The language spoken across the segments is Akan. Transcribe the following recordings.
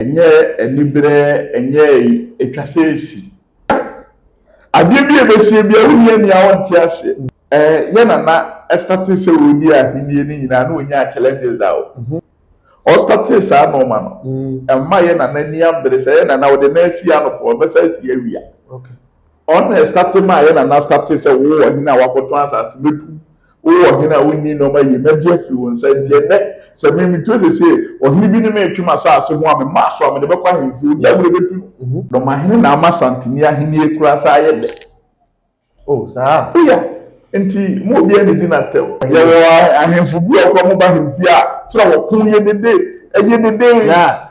Ɛnyɛ aniberɛ, ɛnyɛ ɛyi, ɛtwa sɛ ɛsi. Adeɛ bi a ɛbɛsie biara wonni ani a wonte aseɛ. Eh, yɛ Nana startee sɛ ɔredi ahennie no nyinaa na ɔnyaa challenges da o. Ɔ startee saa nnoɔma no, ɛmma yɛ Nana ani ambere sɛ yɛ Nana ɔde nan si anɔpa ɔbɛsan asi awia. Ɔno na ɛstate maa yɛn nana statee sɛ, Wo ɔhene a woakɔtɔn asase, mɛtu wo, wo ɔhene a wonni nneɛma yiye, mɛgye afiri wo nsa. Enti ɛnnɛ, sɛ me, Mituo seesei, ɔhene bi ne me retwe m'asase ho a, me mma so a, mede bɛkɔ ahemfie, obi a merebɛtu no. Dɔmahene na ama Santini ahennie koraa saa ayɛ dɛ. O, saa? O ya. Enti mo obiara nnidi n'atɛm. Yɛwɔ ahemfo bi wɔ hɔ koraa a, wɔba ahemfie a, kyerɛ wɔko yɛ dede, ɛyɛ dede.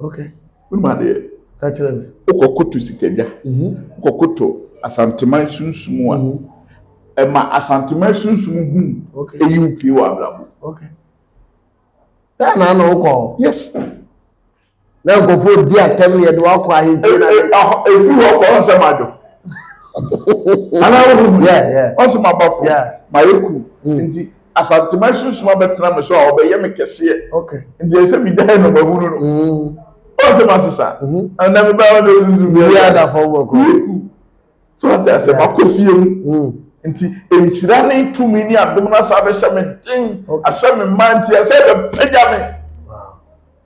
Okay. Mema deɛ. Ka kyerɛ me. Wokɔ koto sikadwa. Mhm. Wokɔ koto asanteman sunsum a. Mhm. Ɛma asanteman sunsum hu. Okay. Eyi wo pie wɔ abrabɔ. Okay. Saa na na wokɔ. Yes. Na nkɔfoɔ di atɛm yɛ de wakɔ ahemfie na. Efiri hɔ kɔ ɔnsɛ ma adwo. Ana wo hu. Yeah yeah. Ɔnsɛ ma abafo. Yeah. Ma yɛ ku. Nti. Asanteman sunsum abɛtena me so a, ɔbɛyɛ me kɛseɛ. Okay. Nti ɛsɛ megyae no mahunu no. Mm. Ɔnte m'ase saa. Mm -hmm. Ɛnna me baa ɔdɔ sunsum bi. Obi ada fam bɔkɔ. Yiku. So ate ase yeah. makɔ fie mu. Mm. Nti nhyira ne tumi ne adom no asa abɛhyɛ me den. Okay. Ahyɛ me mma nti ɛsɛ bɛpagya me.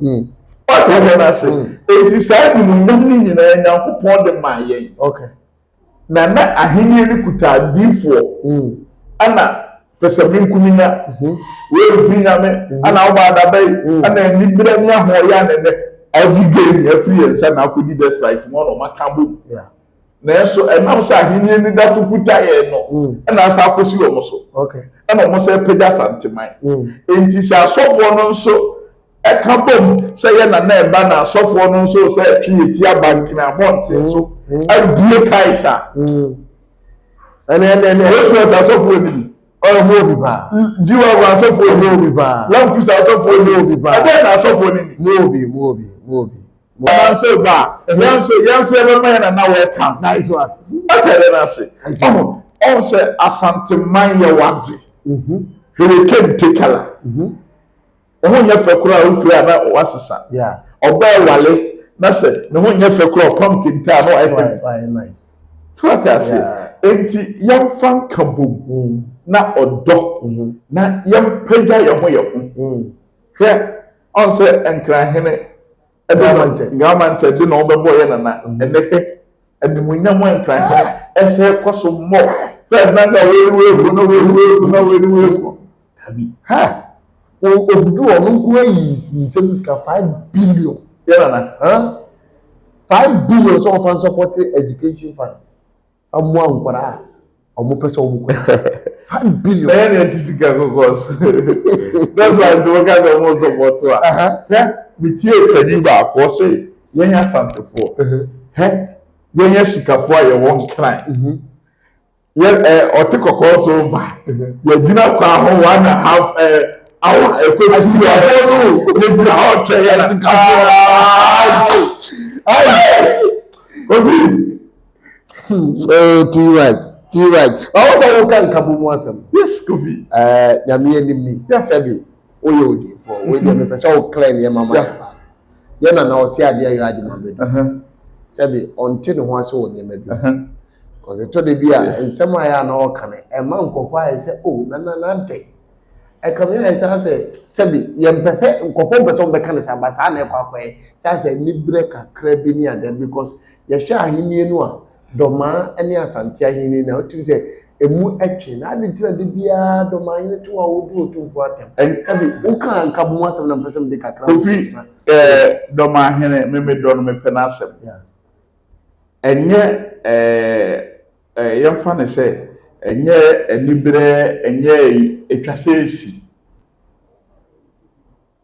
Hmm. Wata yɛn ase. Hmm. Eti saa animuonyam no nyinaa Nyankopɔn de maa yɛn. Okay. Na na ahenni no kuta adiifoɔ. Hmm. Ɛna pɛsɛmenkomenya. Hmm. Wei mfiri nyame. Hmm. Ɛna ɔba adabɛyi. Hmm. Ɛna anibrɛ ne ahoɔyɛ anɛnɛ. Ɔgye game afiri yɛn nsa na akɔdi despite mu ɔna ɔmaka bom. Yeah. Nanso ɛnam sɛ Ahenni anidaso kuta yɛn no mm. na asa akɔsi wɔn so. Ɛna wɔn sɛ pagya Asanteman. Mm. Enti sɛ asɔfoɔ no nso ɛka bom sɛ yɛ nana ɛba na asɔfoɔ no nso sɛ ɛtwe yɛ ti aba nkena abɔnten so mm. abue kaes a. Ɛnɛ ɛnɛ ɛnɛ. Yesu ɛta asɔfoɔ ni ɔmo obi paa. Jiwa ɔmo asɔfo ɔmo obi paa. Lamkusa asɔfo ɔmo obi paa. Ɛdɛ na asɔfo ni ni. Mo obi mo obi mo obi. Ɔnam sɛ ɔba a, yɛn nso yɛn nso yɛbɛma yɛn nana welcome. Nice one. Ɛka yɛn ase. Ɔho ɔho sɛ Asanteman yɛ wade. Mm-hmm. Hurricane Tekala. Mm-hmm. Ɔho nyɛ fɛ koraa ofiri a na wasesa. Yeah. Ɔbɛɛ wale na sɛ ne ho nyɛ fɛ koraa ɔpam kente a na wayɛ fɛ. Wayɛ nice. Tí wàá ti ase. Enti yɛn fa nka bom mm. na ɔdɔ mm-hmm. na yɛn pagya yɛn ho yɛn ho. Mm. Hwɛ Ɔn sɛ Nkran hene Gramankyɛ de na ɔbɛbɔ yɛ nana ɛnɛ hwɛ animuonyam a Nkran hene ɛsɛ kɔ so mmɔ Ferdinand a wei wei kɔ na wei wei kɔ na wei wei kɔ dabi ha odu ɔno nko ayi nsɛm sika five billion yɛ nana huh five billion sɛ ɔfa nsɔpɔte education fund fa mmoa nkwadaa a wɔn pɛ sɛ wɔn kɔ five billion. bɛyɛ na ɛte sika kɔkɔɔ so that's why nti wɔka sɛ wɔn nso bɔto a hɛ metie kani baako ɔsɛ yɛn asantefoɔ hɛ yɛn asikafoɔ a yɛwɔ nkran yɛ ɛ ɔte kɔkɔɔ so ba yɛgyina kwan ho one and a half ɛ awa ɛkɔ si yɛ ɔwɔ no yɛgyina hɔ twɛ yɛn asikafoɔ ayi obi. Hmm, oh, too much, too much. Ɔwɔ sɛ woka nkabɔ mu asɛm. Yes, Kofi. Eh, nyame anim ni. Sɛbi, woyɛ odinfoɔ. Mm-hmm. Wei deɛ mepɛ sɛ woklɛ nneɛma ma yɛ paa. Yɛ na na ɔse adeɛ yɛ adwuma bɛ bi. Uh-huh. Sɛbi, ɔnte ne ho ase wɔ nneɛma bi. Uh-huh. Kɔsɛ tɔ de bi a, nsɛm a yɛ a na ɔka no, ɛma nkɔfoɔ ayɛ sɛ, oh, na na na dɛn. ɛka me ayɛ saa sɛ sɛbi yɛmpɛ sɛ nkurɔfoɔ mpɛ sɛ wɔbɛka no saa ba saa na ɛkɔ akɔyɛ saa sɛ aniberɛ kakra bi ne adeɛ because yɛhwɛ ahennie no a dɔmaa ne asante ahennie no a wotumi sɛ ɛmu ɛtwe na ade nti na de biara dɔmaa hene to a wɔdi otumfoɔ atɛm ɛn sɛbi woka nkabo mu asɛm na mpɛ sɛ mede kakra kofi ɛɛ dɔmaa hene memedɔ no mepɛ no asɛm ɛnyɛ ɛɛ yɛmfa no sɛ ɛnyɛ aniberɛ, ɛnyɛ atwa sɛ ɛsi.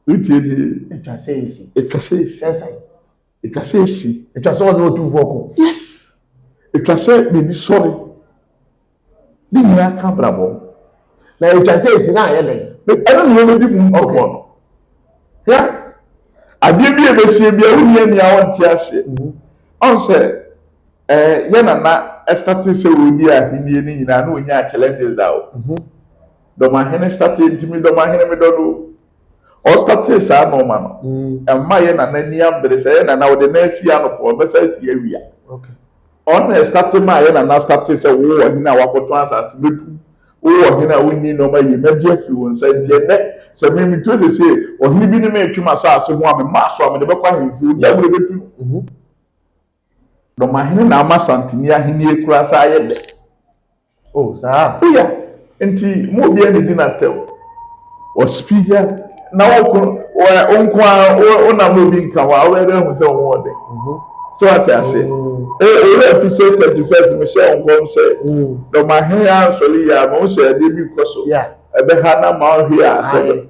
Wotie ni? Atwa sɛ ɛsi. Atwa sɛ ɛsi. Sɛ sɛn? Atwa sɛ ɛsi. Atwa sɛ ɔne ɔtumfoɔ ko. Yes. Atwa sɛ n'ani sɔre. Ne nyinaa ka brabɔ. Na atwa sɛ ɛsi na ayɛ dɛn? Ɛno na yɛbɛdi mu nkɔmmɔ no. Hwɛ, adeɛ bi a ɛbɛsie bi a wonni ani a wɔnte aseɛ. Ɔn sɛ Eh yɛ na na ɛstate sɛ ɔredi ahennie no nyinaa na ɔnyaa challenges da o. Dɔmahene statee nti me dɔmahene me dɔ no o. Ɔstatee saa nnoɔma no ɛmma yɛ nana ani ambere sɛ yɛ nana ɔde nan sii anɔpa ɔbɛsan asi awia. Ɔno na ɛstate maa yɛ nana statee sɛ wo ɔhene a wakɔtɔn asase mɛtu wo ɔhene a wonni nnoɔma yie mɛgye afiri wo nsa nti ɛnnɛ sɛ me metuo sesie ɔhene bi ne me retwe m'asase ho a mema so a mede bɛkɔ ahemfie ɔni awerɛ bɛtu no. Dɔma hene na ama Santini ahennie koraa saa ayɛ dɛ. Oh, saa a. Oh, yeah. Nti, mo obiara nnidi no atɛw. Ɔspi, yeah. Na wo ko, wo, wo nko ara, wo, wo nam na obi nka ho a, wobɛyɛ dɛ ahu sɛ wo ho wɔ dɛ. Mhm. So wate ase? Mm. Eh, owura fi sɛ 31st, mehyɛ wo nkɔm sɛ, Mm. Dɔma hene ansɔre yie a, mehu sɛ adeɛ bi rekɔ so. Yeah. Ɛbɛha no ama ɔhwe a, sɛ. Aye.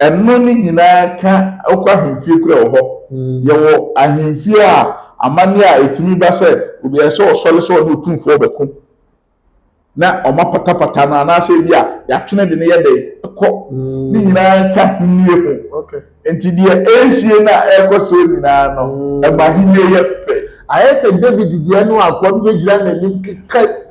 Ɛno ne nyinaa ka wokɔ ahemfie kura wɔ hɔ. Yɛwɔ ahemfie a amanneɛ a ɛtumi ba sɛ obi ayɛ sɛ ɔsɔre sɛ ɔne otumfoɔ rebɛko na wɔapatapata no anaasɛ ebi a yɛatwe no de no yɛ dɛn kɔ. Ne nyinaa ka ahennie ho. Enti deɛ ɛresie no a ɛrekɔ soɔ nyinaa no, ɛma ahennie yɛ fɛ. Ayɛ sɛ David deɛ no a, akoa bi bɛgyina n'anim keka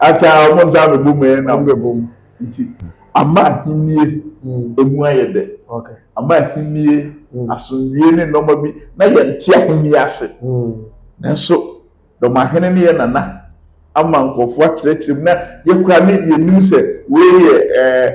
Akyɛ a wɔn nsa abɛbɔ mu ɛyɛ nam. Wɔbɛbɔ mu. Nti ama ahennie ɛmu ayɛ dɛ. Okay. Ama ahennie, asomdwie ne nnoɔma bi na yɛnte ahennie ase. Nanso dɔmahene ne yɛn nana ama nkurɔfoɔ akyerɛkyerɛ mu na yɛkura ne yɛnim sɛ wei yɛ ɛɛ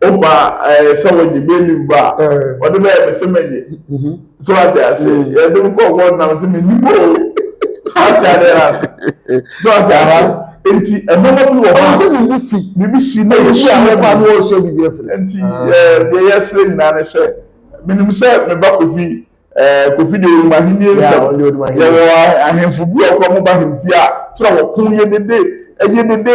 wofa ɛɛ sɛ wɔde bɛmi ba a wɔde bɛyɛ me sɛ mɛnyɛ so ate ase yɛde me kɔ wɔn nam sɛ mɛni bɔ o ate ade ase so ate ase nti ɛmɔmɔ bi wɔ hɔ a sɛ biribi si biribi si na ɛsi a wɔkɔ ano ɔsɛ biribi afiri nti ɛɛ deɛ yɛsrɛ nyinaa ne sɛ menim sɛ meba kofi ɛɛ kofi deɛ ɔnim ahenni nsɛm yɛwɔ ahemfo bi a wɔkɔ mo ba ahemfie a kyerɛ wɔko yɛ dede ɛyɛ dede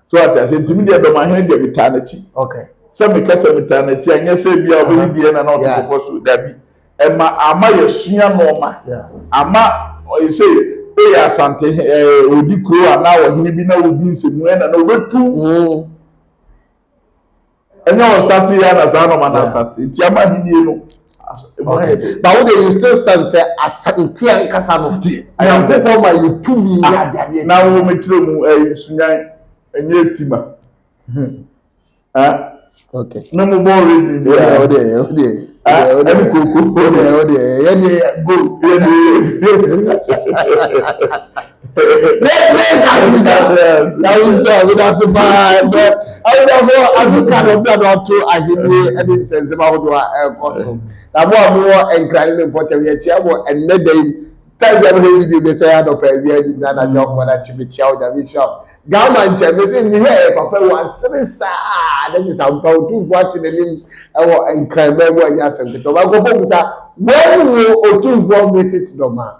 so ate ase nti mi deɛ dɔmahene deɛ mi taa n'akyi okay sɛ mi kasa mi taa n'akyi a nyɛ sɛ ebi a ɔbɛyi deɛ na na ɔte pɔpɔ so dabi ɛma ama yɛ sua nneɛma ama ɛsɛ oyɛ asante ɛɛ odi kuro anaa ɔhene bi na odi nsɛmua na na ɔbɛtu. ɛnyɛ wɔn start yɛ na saa nɔɔma na start nti ama ahinie no ɛmu ayɛ dɛ. but wo de you still stand sɛ asante ankasa no nyankopɔn ma yɛ tumi yɛ ah, adeadeɛ na wo mekyerɛ mu ɛyɛ sunyan ɛnyɛ etima na mo bɔ redi bi a ɛne koko ɛne gold ɛne Awusa medase paa ɛnɛ awusafo Afrika na ɔbɛn na ɔto ahenni ɛne nsɛnsɛm ahodoɔ a ɛrekɔ so na mo a mowɔ nkran ne mpɔtam yɛkyia mo ɛnɛ da yi time bi a mehwɛ video bi sɛ anɔpa awia ni na anadwo ahoɔ na kye mekyia wo nyame nhyira wo Ghana nkyɛn mese mehwɛ ɛyɛ papa wɔ asere saa na kyesa mpa otumfo ate n'anim ɛwɔ nkran bɛn mu ɛnyɛ asɛm ketewa ma nkɔfo mu sa wɔn wo otumfoɔ visit dɔm a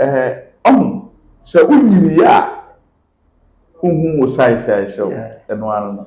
Ɛhɛ, ɔho, sɛ wo nyini yɛ a, wo ho wo sae sae sɛ wo, ɛno ara no.